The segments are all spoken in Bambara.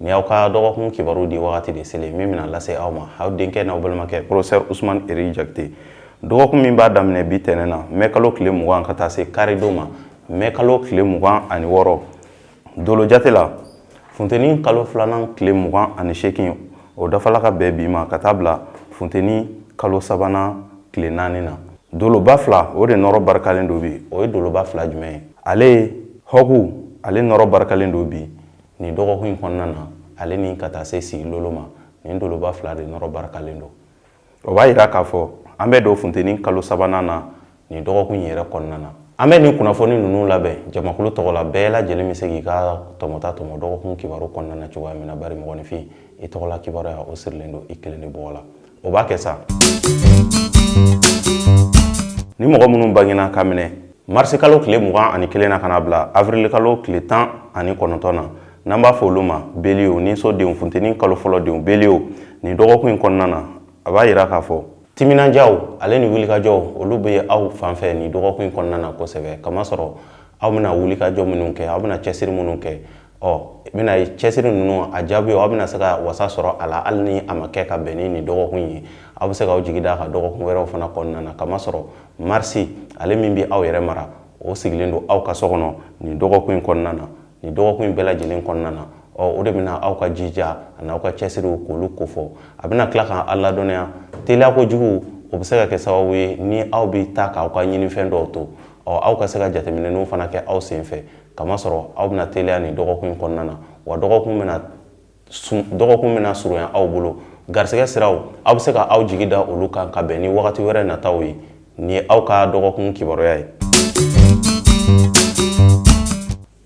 Ni y'aw ka dɔgɔkun kibaru di wagati de selen min bɛna lase aw ma aw denkɛ n'aw balimakɛ professeur Ousmane Eri Jakite dɔgɔkun min b'a daminɛ bi tɛnɛn na mai kalo tile mugan ka taa se karidon ma mai kalo tile mugan ani wɔɔrɔ dolo jate la funteni kalo filanan tile mugan ani seegin o dafala ka bɛn bi ma ka taa bila funteni kalo sabanan tile naani na doloba fila o de nɔrɔ barikalen don bi o ye doloba fila jumɛn ye ale hɔku ale nɔrɔ barikalen don bi nin dɔgɔkun in kɔnɔna na ale ni ka taa se sigilolo ma nin doloba fila de nɔrɔ barikalen don o b'a yira k'a fɔ an bɛ don funteni kalo sabanan na nin dɔgɔkun in yɛrɛ kɔnɔna na an bɛ nin kunnafoni ninnu labɛn jamakulu tɔgɔ la bɛɛ lajɛlen bɛ se k'i ka tɔmɔta tɔmɔ dɔgɔkun kibaru kɔnɔna na cogoya min na bari mɔgɔninfin i tɔgɔla kibaruya o sirilen don i kelen de bɔgɔ la o b'a kɛ sa ni mɔgɔ minnu bangena ka minɛ marisi kalo tile mugan ani kelen na ka na bila avrili kalo tile tan ani kɔnɔntɔn na n'an b'a fɔ olu ma beliyo niso denw funteni kalo fɔlɔ denw beliyo nin dɔgɔkun in kɔnɔna na a b'a yira k'a fɔ timinandiyaw ale ni wulikajɔw olu bɛ aw fan fɛ nin dɔgɔkun in kɔnɔna na kosɛbɛ kamasɔrɔ aw bɛna wulikajɔ minnu kɛ aw bɛna cɛsiri minnu kɛ ɔ i bɛna ye cɛsiri ninnu a jaabi aw bɛna se ka wasa sɔrɔ a la hali ni a ma kɛ ka bɛn ni nin dɔgɔkun ye aw bɛ se k'aw jigi da a kan dɔgɔkun wɛrɛw fana kɔnɔna na kamasɔrɔ marisi ale min bɛ aw yɛrɛ mara o sigilen don aw ka so kɔnɔ nin dɔgɔkun in kɔnɔna na nin dɔgɔkun in bɛɛ lajɛlen kɔnɔna na ɔ o de bɛna aw ka jija ani aw ka cɛsiriw k'olu kofɔ a bɛna tila k'aw ladɔnniya teliya kojugu o bɛ se ka kɛ sababu ye ni aw bɛ taa k'aw ka ɲinifɛn dɔw to ɔ aw ka se ka jateminɛw fana kɛ aw sen fɛ kamasɔrɔ aw bɛna teliya nin dɔgɔkun kɔnɔna na wa dɔgɔkun bɛna surunya aw bolo garisɛgɛ siraw aw bɛ se ka aw jigi da olu kan ka bɛn ni wagati wɛrɛ nataw ye nin ye aw ka dɔgɔkun kibaruya ye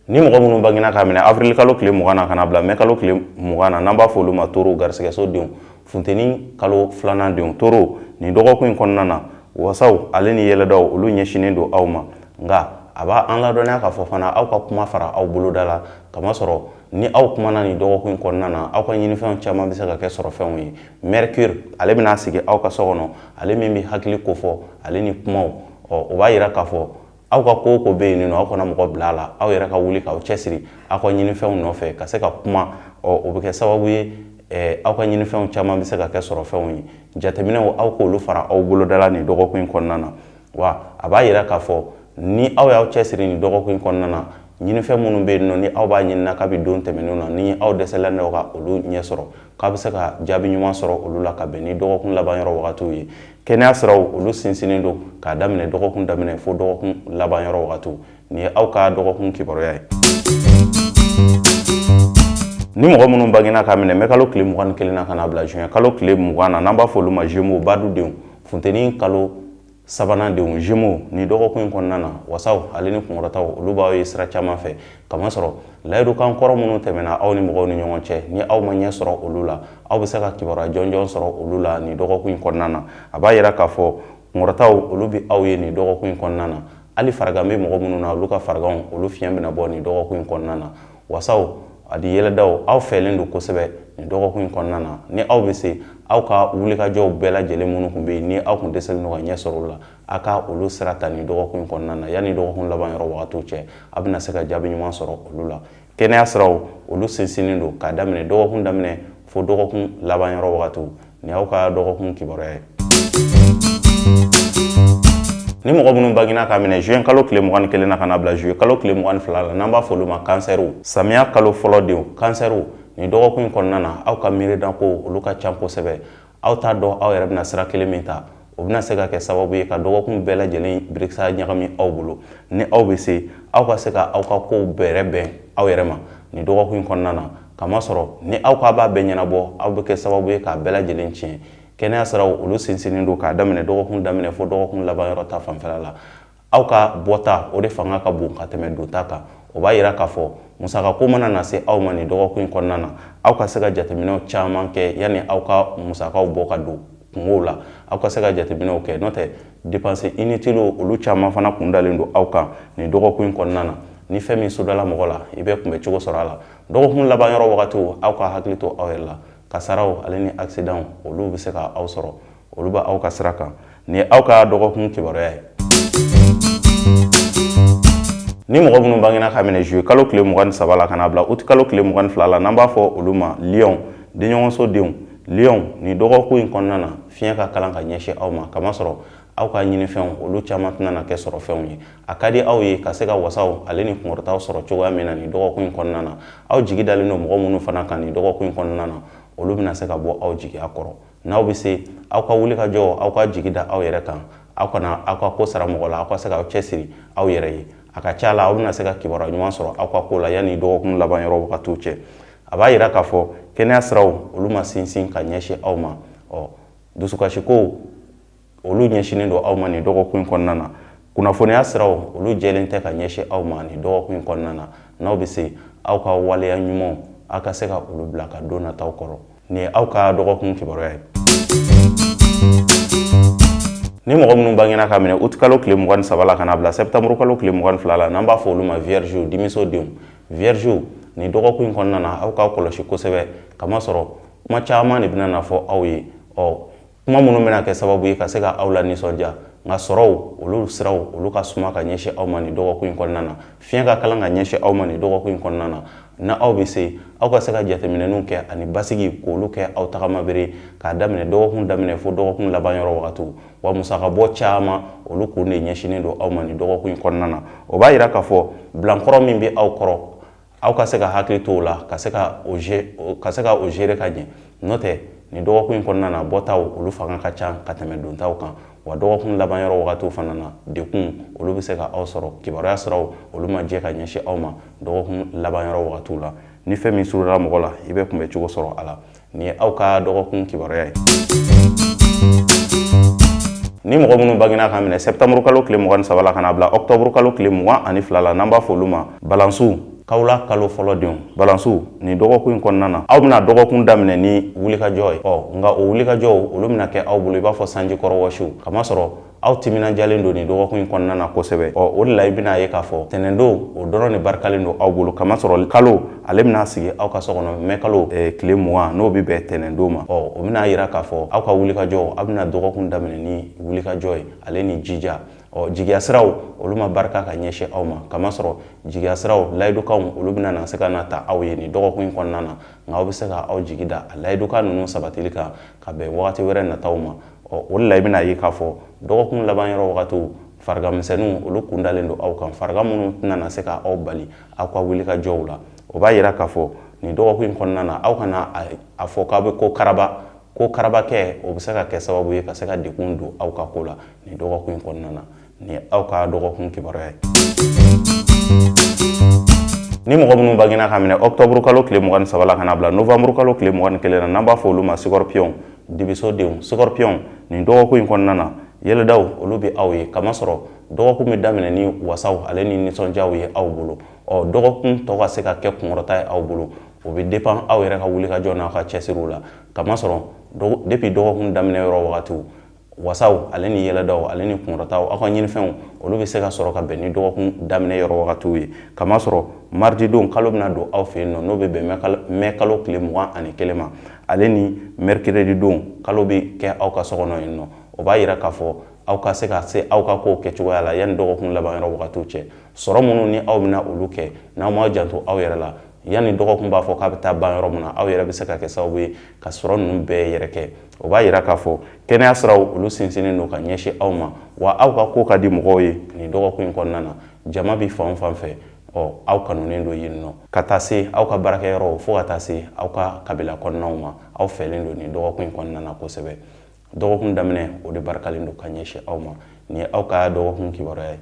ni mɔgɔ minnu bangena ka minɛ awirili kalo tile mugan na ka na bila mɛ kalo tile mugan na n'an b'a fɔ olu ma toro garisɛgɛso denw funteni kalo filanan denw toro nin dɔgɔkun in kɔnɔna na wasaw ale ni yɛlɛdaw olu ɲɛsinnen don aw ma nka a b'an ladɔnniya k'a fɔ fana aw ka kuma fara aw boloda la kamasɔrɔ ni aw kumana nin dɔgɔkun in kɔnɔna na aw ka ɲinifɛnw caman bɛ se ka kɛ sɔrɔfɛnw ye mercure ale bɛna sigi aw ka so kɔnɔ ale min bɛ hakili kofɔ ale ni kumaw ɔ o b'a yira k'a fɔ aw ka ko o ko bɛ yen nɔ aw kana mɔgɔ bila a la aw yɛrɛ ka wuli k'aw cɛsiri aw ka ɲinifɛnw nɔfɛ ka se ka kuma ɔ o bɛ kɛ sababu ye eh, aw ka ɲinifɛnw caman bɛ se ka kɛ sɔrɔfɛnw ye jateminɛw aw k'olu fara aw boloda la nin dɔgɔkun in kɔnɔna na wa a b'a yira k'a fɔ ni aw y'aw cɛsiri nin dɔgɔkun in kɔnɔna na ɲinifɛn minnu bɛ yen nɔ ni aw b'a ɲini na kabi don tɛmɛnenw na ni aw dɛsɛlen don ka olu ɲɛ sɔrɔ k'a bɛ se ka jaabi ɲuman sɔrɔ olu la ka bɛn ni dɔgɔkun laban yɔrɔ wagatiw ye kɛnɛya siraw olu sinsinnen don k'a daminɛ dɔgɔkun daminɛ fo dɔgɔkun laban yɔrɔ wagatiw nin ye aw ka dɔgɔkun kibaruya ye ni mɔgɔ minnu bangina k'a minɛ mɛ kalo tile mugan ni kelen na ka na bila juin kalo tile mugan na n'an b'a fɔ olu ma gémeaux badudenw funteni kalo sabanan denw gémeaux ni dɔgɔkun in kɔnɔna na wasaw ale ni kunkɔrɔtaw olu b'aw ye sira caman fɛ kamasɔrɔ layidukan kɔrɔ minnu tɛmɛna aw ni mɔgɔw ni ɲɔgɔn cɛ ni aw ma ɲɛ sɔrɔ olu la aw bɛ se ka kibaruya jɔnjɔn sɔrɔ olu la nin dɔgɔkun in kɔnɔna na a b'a yira k'a fɔ kunkɔrɔtaw olu bɛ aw ye nin dɔgɔkun in kɔnɔna na hali farigan bɛ mɔgɔ minnu na olu ka fariganw olu fiɲɛ bɛna bɔ nin dɔgɔkun in kɔnɔna na wasaw ani yɛlɛdaw aw fɛlen don kosɛbɛ nin dɔgɔkun in kɔnɔna na ni aw bɛ se aw ka wulikajɔw bɛɛ lajɛlen minnu tun bɛ yen ni aw tun dɛsɛlen don ka ɲɛ sɔrɔ olu la aw ka olu sira ta nin dɔgɔkun in kɔnɔna na yanni dɔgɔkun laban yɔrɔ wagatiw cɛ aw bɛna se ka jaabi ɲuman sɔrɔ olu la kɛnɛya siraw olu sinsinnen don k'a daminɛ dɔgɔkun daminɛ fo dɔgɔkun laban yɔrɔ wagatiw nin y'aw ka dɔgɔkun kibaruya ye ni mɔgɔ minnu bangina k'a minɛ juin kalo tile mugan ni kelen na ka na bila juillet kalo tile mugan ni fila la n'an b'a fɔ olu ma kansɛriw samiya kalo fɔlɔ denw kansɛriw nin dɔgɔkun in kɔnɔna na aw ka miirinakow olu ka can kosɛbɛ aw t'a dɔn aw yɛrɛ bɛna sira kelen min ta o bɛna se ka kɛ sababu ye ka dɔgɔkun bɛɛ lajɛlen birikisa ɲagami aw bolo ni aw bɛ se aw ka se ka aw ka kow bɛrɛ bɛn aw yɛrɛ ma nin dɔgɔkun in kɔnɔna na kamasɔrɔ ni aw k'a b'a bɛɛ ɲɛnabɔ aw bɛ kɛ sababu ye k'a bɛɛ lajɛlen tiɲɛ kɛnɛya siraw olu sinsinnen don k'a daminɛ dɔgɔkun daminɛ fo dɔgɔkun laban yɔrɔ ta fanfɛla la aw ka bɔta o de fanga ka bon ka tɛmɛ donta kan o b'a yira k'a fɔ musakako mana na se aw ma nin dɔgɔkun in kɔnɔna na aw ka se ka jateminɛw caman kɛ yanni aw ka musakaw bɔ ka don kunkow la aw ka se ka jateminɛw kɛ n'o tɛ dépenses inutiles olu caman fana kun dalen don aw kan nin dɔgɔkun in kɔnɔna na ni fɛn min sodala mɔgɔ la i bɛ kunbɛ cogo sɔrɔ a la dɔgɔkun laban yɔrɔ wagatiw aw ka hakili to aw yɛrɛ la kasaraw ale ni accident olu bɛ se ka aw sɔrɔ olu bɛ aw ka sira kan nin ye aw ka dɔgɔkun kibaruya ye ni mɔgɔ minnu bangina k'a minɛ juillet kalo tile mugan ni saba la ka na bila uti kalo tile mugan ni fila la n'an b'a fɔ olu ma lion denɲɔgɔnso denw lion ni dɔgɔkun in kɔnɔna na fiɲɛ ka kalan ka ɲɛsin aw ma kamasɔrɔ aw ka ɲinifɛnw olu caman tɛna na kɛ sɔrɔ fɛnw ye a ka di aw ye ka se ka wasaw ale ni kunkɔrɔtaw sɔrɔ cogoya min na ni dɔgɔkun in kɔnɔna na aw jigi dalen don mɔgɔ minnu fana kan ni dɔgɔkun in kɔnɔna na olu bɛna se ka bɔ aw jigiya kɔrɔ n'aw bɛ se aw ka wuli ka jɔ aw ka jigi da aw yɛrɛ kan aw kana aw ka ko sara mɔgɔ la aw ka se ka aw cɛ siri aw yɛrɛ ye a ka ca la aw bɛna se ka kibaruya ɲuman sɔrɔ aw ka ko la yanni dɔgɔkun laban yɔrɔ wagatiw cɛ a b'a yira k'a fɔ kɛnɛya siraw olu ma sinsin ka ɲɛsin aw ma ɔ dusukasiko olu ɲɛsinnen don aw ma nin dɔgɔkun in kɔnɔna na kunnafoniya siraw olu jɛlen tɛ ka ɲɛsin aw ma nin dɔgɔkun in kɔnɔna na n'aw bɛ se aw ka waleya ɲumanw aw ka se ka olu bila ka don nataw kɔnɔ nin ye aw ka dɔgɔkun kibaruya ye ni mɔgɔ minnu bangena ka minɛ utikalo tile mugan ni saba la ka na bila sɛptamuru kalo tile mugan ni fila la n'an b'a fɔ olu ma viergew dimiso denw viergew nin dɔgɔkun in kɔnɔna na aw k'aw kɔlɔsi kosɛbɛ kamasɔrɔ kuma caman de bɛna na fɔ aw ye ɔ kuma minnu bɛna kɛ sababu ye ka se ka aw lanisɔndiya nka sɔrɔw olu siraw olu ka suma ka ɲɛsin aw ma nin dɔgɔkun in kɔnɔna na fiɲɛ ka kalan ka ɲɛsin aw ma nin dɔgɔkun in kɔnɔna na n'aw bɛ se aw ka se ka jateminɛw kɛ ani basigi k'olu kɛ aw tagamabere k'a daminɛ dɔgɔkun daminɛ fo dɔgɔkun laban yɔrɔ wagatiw wa musakabɔ caman olu kun de ɲɛsinnen don aw ma nin dɔgɔkun in kɔnɔna na o b'a yira k'a fɔ bilankɔrɔ min bɛ aw kɔrɔ aw ka se ka hakili to o la ka se ka o gérer ka ɲɛ n'o tɛ nin dɔgɔkun in kɔnɔna na bɔtaw olu fanga ka ca ka tɛmɛ dontaw kan wa dɔgɔkun laban yɔrɔ wagatiw fana na dekun olu bɛ se ka aw sɔrɔ kibaruya siraw olu ma jɛ ka ɲɛsin aw ma dɔgɔkun laban yɔrɔ wagatiw la ni fɛn min surunna mɔgɔ la i bɛ kunbɛ cogo sɔrɔ a la nin ye aw ka dɔgɔkun kibaruya ye ni mɔgɔ minnu bangena ka minɛ sɛptamuru kalo tile mugan ni saba la ka na bila ɔktɔburu kalo tile mugan ani fila la n'an b'a fɔ olu ma balansiw kawla kalo fɔlɔ denw balansiw nin dɔgɔkun in kɔnɔna na aw bɛna dɔgɔkun daminɛ ni wulikajɔ ye ɔ nka o wulikajɔw olu bɛna kɛ aw bolo i b'a fɔ sanji kɔrɔ wɔsiw kamasɔrɔ aw timinajalen don nin dɔgɔkun in kɔnɔna na kosɛbɛ ɔ o de la i bɛna ye k'a fɔ tɛnɛndon o dɔrɔn de barikalen don aw bolo kamasɔrɔ kalo ale bɛna sigi aw ka so kɔnɔ mɛ kalo tile mugan n'o bɛ bɛn tɛnɛndon ma ɔ o bɛna yira k'a fɔ aw ka wulikajɔ aw bɛna dɔgɔkun daminɛ ni wulikajɔ ye ale ni jija ɔ jigiya siraw olu ma barika ka ɲɛsin aw ma kamasɔrɔ jigiya siraw layidukanw olu bɛna na se ka na ta aw ye nin dɔgɔkun in kɔnɔna na nka aw bɛ se ka aw jigi da a layidukan ninnu sabatili kan ka bɛn wagati wɛrɛ nataw ma ɔ o la i bɛna ye k'a fɔ dɔgɔkun laban yɔrɔ wagatiw farigan misɛnninw olu kun dalen don aw kan farigan minnu tɛna na se ka aw bali aw ka wulikajɔw la o b'a yira k'a fɔ nin dɔgɔkun in kɔnɔna na aw kana a fɔ k'aw bɛ ko karaba ko karabakɛ o bɛ se ka kɛ sababu ye ka se ka dekun don aw ka ko la nin dɔgɔkun in kɔnɔna na nin ye aw ka dɔgɔkun kibaruya ye ni mɔgɔ minnu bangena ka minɛ ɔktɔburu kalo tile mugan ni saba la ka na bila novanburu kalo tile mugan ni kelen na n'an b'a fɔ olu ma sikɔrɔpiyɔn dibisodenw sikɔrɔpiyɔn nin dɔgɔkun in kɔnɔna na yɛlɛdaw olu bɛ aw ye kamasɔrɔ dɔgɔkun bɛ daminɛ ni wasaw ale ni nisɔndiyaw ye aw bolo ɔ dɔgɔkun tɔ ka se ka kɛ kunkɔrɔta ye aw bolo o bɛ dépend aw yɛrɛ ka wulikajɔ n'aw ka cɛsiriw la kamasɔrɔ depuis dɔgɔkun daminɛ yɔrɔ wagatiw wasaw ale ni yɛlɛdaw ale ni kunkɔrɔtaw aw ka ɲinifɛnw olu bɛ se ka sɔrɔ ka bɛn ni dɔgɔkun daminɛ yɔrɔ wagatiw ye kamasɔrɔ mardi don kalo bɛna don aw fɛ yen nɔ n'o bɛ bɛn mɛ kalo tile mugan ani kelen ma ale ni mercredi don kalo bɛ kɛ aw ka so kɔnɔ yen nɔ o b'a yira k'a fɔ aw ka se ka se aw ka kow kɛcogoya la yanni dɔgɔkun laban yɔrɔ wagatiw cɛ sɔrɔ minnu ni aw bɛna olu kɛ n'aw m'aw janto aw yɛrɛ la yanni dɔgɔkun b'a fɔ k'a bɛ taa ban yɔrɔ min na aw yɛrɛ bɛ se ka kɛ sababu ye ka sɔrɔ ninnu bɛɛ yɛrɛ kɛ o b'a yira k'a fɔ kɛnɛya siraw olu sinsinnen don ka ɲɛsin aw ma wa aw ka ko ka di mɔgɔw ye nin dɔgɔkun in kɔnɔna na jama bɛ fan fan fɛ ɔ aw kanunen don yen nɔ ka taa se aw ka baarakɛyɔrɔw fo ka taa se aw ka kabila kɔnɔnaw ma aw fɛlen don nin dɔgɔkun in kɔnɔna na kosɛbɛ dɔgɔkun daminɛ o de barikalen don ka ɲɛsin aw ma nin ye aw ka dɔgɔkun kibaruya ye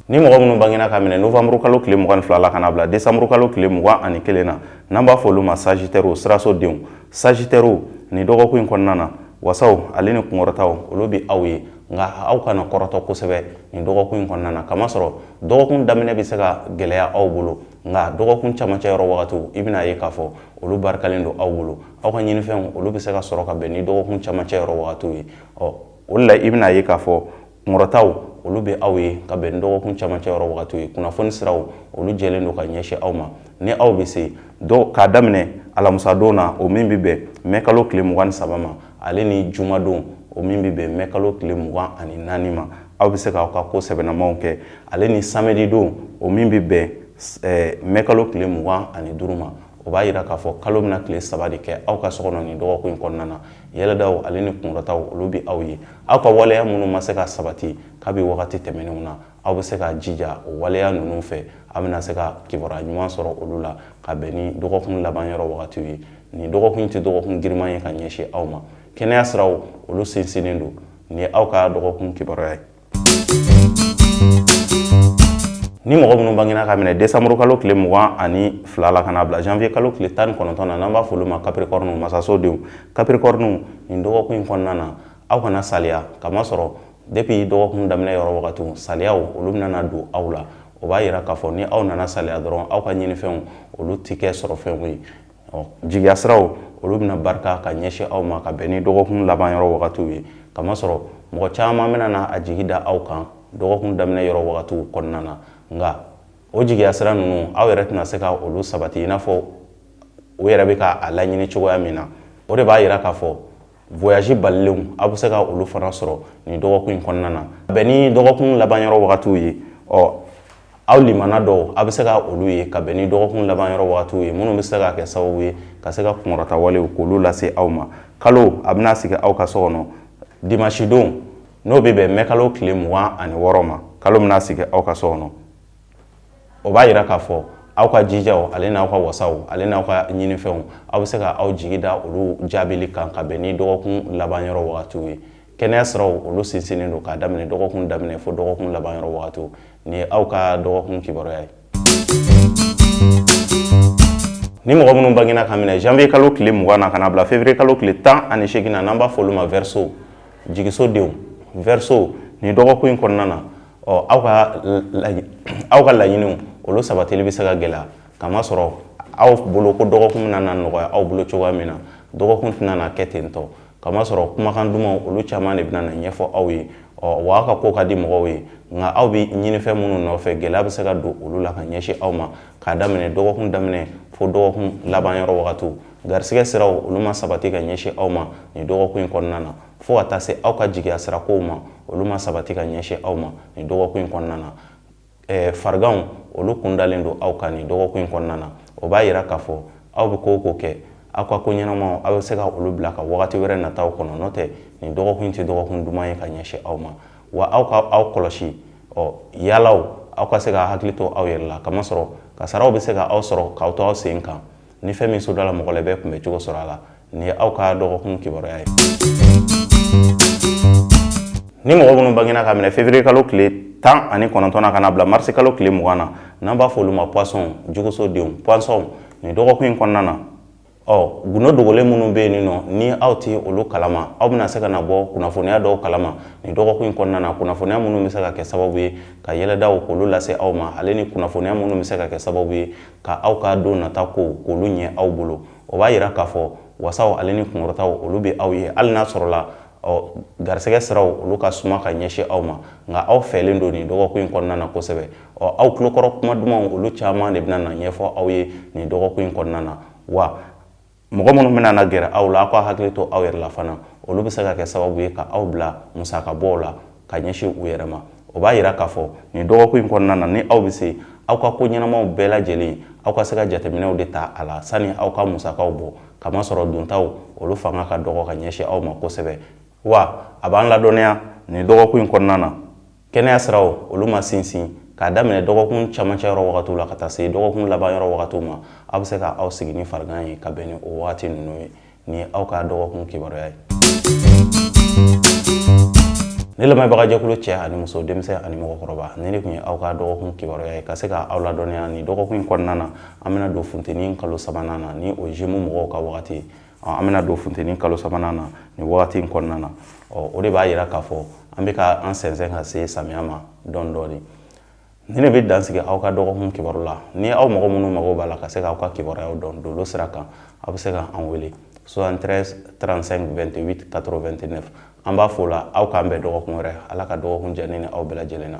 ni mɔgɔ minnu bangena ka minɛ novembre kalo tile mugan ni fila la ka na bila décembre kalo tile mugan ani kelen na n'an b'a fɔ olu ma sagittairew siraso denw sagittairew nin dɔgɔkun in kɔnɔna na wasaw ale ni kunkɔrɔtaw olu bɛ aw ye nka aw kana kɔrɔtɔ kosɛbɛ nin dɔgɔkun in kɔnɔna na kamasɔrɔ dɔgɔkun daminɛ bɛ se ka gɛlɛya aw bolo nka dɔgɔkun camancɛ yɔrɔ wagatiw i bɛna ye k'a fɔ olu barikalen don aw bolo aw ka ɲinifɛnw olu bɛ se ka sɔrɔ ka bɛn ni dɔgɔkun camancɛ yɔrɔ wagatiw ye ɔ o de la i bɛna ye k'a fɔ kunkɔrɔtaw olu bɛ aw ye ka bɛn ni dɔgɔkun camancɛ yɔrɔ wagatiw ye kunnafoni siraw olu jɛlen don ka ɲɛsin aw ma ni aw bɛ se dɔw k'a daminɛ alamusadon na o min bɛ bɛn mɛkalo tile mugan ni saba ma ale ni jumadon o min bɛ bɛn mɛkalo tile mugan ani naani ma aw bɛ se k'aw ka ko sɛbɛnnamaw kɛ ale ni samedi don o min bɛ bɛn mɛkalo tile mugan ani duuru ma o b'a yira k'a fɔ kalo bɛna tile saba de kɛ aw ka so kɔnɔ nin dɔgɔkun in kɔnɔna na yɛlɛdaw ale ni kunkɔrɔtaw olu bɛ aw ye aw ka waleya minnu ma se ka sabati kabi wagati tɛmɛnenw na aw bɛ se k'aw jija o waleya ninnu fɛ aw bɛna se ka kibaruya ɲuman sɔrɔ olu la ka bɛn ni dɔgɔkun laban yɔrɔ wagatiw ye nin dɔgɔkun in tɛ dɔgɔkun giriman ye ka ɲɛsin aw ma kɛnɛya siraw olu sinsinnen don nin ye aw ka dɔgɔkun kibaruya ye ni mɔgɔ minnu bangena ka minɛ décembre kalo tile mugan ani fila la ka na bila janvier kalo tile tan ni kɔnɔntɔn na n'an b'a f'olu ma capricornew masaso denw capricornew nin dɔgɔkun in kɔnɔna na aw kana saliya kamasɔrɔ depuis dɔgɔkun daminɛ yɔrɔ wagatiw saliyaw olu bɛna don aw la o b'a yira k'a fɔ ni aw nana saliya dɔrɔn aw ka ɲinifɛnw olu tɛ kɛ sɔrɔ fɛnw ye ɔ jigiyasiraw olu bɛna barika ka ɲɛsin aw ma ka bɛn ni dɔgɔkun laban yɔrɔ wagatiw ye kamasɔrɔ mɔgɔ caman bɛna na a jigi da aw kan dɔgɔkun daminɛ yɔrɔ wagatiw kɔnɔna na nka o jigiyasira ninnu aw yɛrɛ tɛna se ka olu sabati i n'a fɔ o yɛrɛ bɛ ka a laɲini cogoya min na o de b'a yira k'a fɔ voyage balilenw aw bɛ se ka olu fana sɔrɔ nin dɔgɔkun in kɔnɔna na bɛn ni dɔgɔkun laban yɔrɔ wagatiw ye ɔ aw limana dɔw aw bɛ se ka olu ye ka bɛn ni dɔgɔkun laban yɔrɔ wagatiw ye minnu bɛ se ka kɛ sababu ye ka se ka kunkɔrɔta walew k'olu lase aw ma kalo a bɛna sigi aw ka so kɔnɔ dimansidon n'o bɛ bɛn mɛkalo tile mugan ani wɔɔrɔ ma kalo bɛna sigi aw ka so kɔnɔ o b'a yira k'a fɔ aw ka jijaw ale n'aw ka wasaw ale n'aw ka ɲinifɛnw aw bɛ se ka aw jigi da olu jaabili kan ka bɛn ni dɔgɔkun laban yɔrɔ wagatiw ye kɛnɛya siraw olu sinsinnen don k'a daminɛ dɔgɔkun daminɛ fo dɔgɔkun laban yɔrɔ wagatiw nin y'aw ka dɔgɔkun kibaruya ye ni mɔgɔ minnu bangena ka minɛ janvier kalo tile mugan na ka na bila février kalo tile tan ani segin na n'an b'a fɔ olu ma verseau jigisodenw verseau nin dɔgɔkun in kɔnɔna na ɔ aw ka aw ka laɲiniw olu sabatili bɛ se ka gɛlɛya kamasɔrɔ aw bolo ko dɔgɔkun bɛna na nɔgɔya aw bolo cogoya min na dɔgɔkun tɛna na kɛ ten tɔ kamasɔrɔ kumakan dumanw olu caman de bɛna na ɲɛfɔ aw ye ɔ wa aw ka ko ka di mɔgɔw ye nka aw bɛ ɲinifɛn minnu nɔfɛ gɛlɛya bɛ se ka don olu la ka ɲɛsin aw ma k'a daminɛ dɔgɔkun daminɛ fo dɔgɔkun laban yɔrɔ wagatiw garisɛgɛ siraw olu ma sabati ka ɲɛsin aw ma nin dɔgɔkun in kɔnɔna na fo ka taa se aw ka jigiya sirakow ma olu ma sabati ka ɲɛsin aw ma nin dɔgɔkun in kɔnɔna na eh, fariganw olu kun dalen don aw kan nin dɔgɔkun in kɔnɔna na o b'a yira k'a fɔ aw bɛ ko o ko kɛ aw ka ko ɲɛnamaw aw bɛ se ka olu bila ka wagati wɛrɛ nataw kɔnɔ n'o tɛ nin dɔgɔkun in tɛ dɔgɔkun duman ye ka ɲɛsin aw ma wa aw ka aw kɔlɔsi ɔ yaalaw aw ka se ka hakili to aw yɛrɛ la kamasɔrɔ kasaraw bɛ se ka aw sɔrɔ k'aw to aw sen kan ni fɛn min sodala mɔgɔ la bɛɛ kunbɛn cogo sɔrɔ a la nin y'aw ka dɔgɔkun kibaruya ye ni mɔgɔ minnu bangena ka minɛ février kalo tile tan ani kɔnɔntɔn na ka na bila marisi kalo tile mugan na n'an b'a fɔ olu ma poisson jɛgɛsodenw poisson nin dɔgɔkun in kɔnɔna na ɔ gundo dogolen minnu bɛ yen nɔ ni aw tɛ olu kalama aw bɛna se ka na bɔ kunnafoniya dɔw kalama nin dɔgɔkun in kɔnɔna na kunnafoniya minnu bɛ se ka kɛ sababu ye ka yɛlɛdaw k'olu lase aw ma ale ni kunnafoniya minnu bɛ se ka kɛ sababu ye ka aw ka don nata kow k'olu ɲɛ aw bolo o b'a yira k'a fɔ wasaw ale ni kunkɔrɔtaw olu bɛ aw ye hali n'a sɔrɔla ɔ garisɛgɛ siraw olu ka suma ka ɲɛsin aw ma nka aw fɛlen don nin dɔgɔkun in kɔnɔna na kosɛbɛ ɔ aw tulokɔrɔ kuma dumanw olu caman de bɛna na ɲɛfɔ aw ye nin dɔgɔkun in kɔnɔna na wa mɔgɔ minnu bɛna na gɛrɛ aw la aw ka hakili to aw yɛrɛ la fana olu bɛ se ka kɛ sababu ye ka aw bila musakabɔw la ka ɲɛsin u yɛrɛ ma o b'a yira k'a fɔ nin dɔgɔkun in kɔnɔna na ni aw bɛ se aw ka ko ɲɛnamaw bɛɛ lajɛlen aw ka se ka jateminɛw de ta a la sani aw ka musakaw bɔ kamasɔrɔ dontaw olu fanga ka dɔgɔ ka ɲɛsin aw ma kosɛbɛ wa a b'an ladɔnniya nin dɔgɔkun in kɔnɔna na kɛnɛya siraw olu ma sinsin k'a daminɛ dɔgɔkun camancɛ yɔrɔ wagatiw la ka taa se dɔgɔkun laban yɔrɔ wagatiw ma aw bɛ se ka aw sigi ni farigan ye ka bɛn ni o wagati ninnu ye nin ye aw ka dɔgɔkun kibaruya ye ne lamɛnbagajɛkulu cɛ ani muso denmisɛn ani mɔgɔkɔrɔba nin de tun ye aw ka dɔgɔkun kibaruya ye ka se ka aw ladɔnniya nin dɔgɔkun in kɔnɔna na an bɛna don funteni kalo sabanan na ni o Gémeaux mɔgɔw ka wagati ye an bɛna don funteni kalo sabanan na nin wagati in kɔnɔna na ɔ o de b'a yira k'a fɔ an bɛ ka an sɛnsɛn ka se samiya ma dɔɔni dɔɔni ni ne bɛ dan sigi aw ka dɔgɔkun kibaru la ni aw mɔgɔ minnu mago b'a la ka se k'aw ka kibaruyaw dɔn dolo sira kan aw bɛ se ka an wele 73 35 28 89 an b'a fɔ o la aw k'an bɛn dɔgɔkun wɛrɛ ala ka dɔgɔkun diya ne ni aw bɛɛ lajɛlen na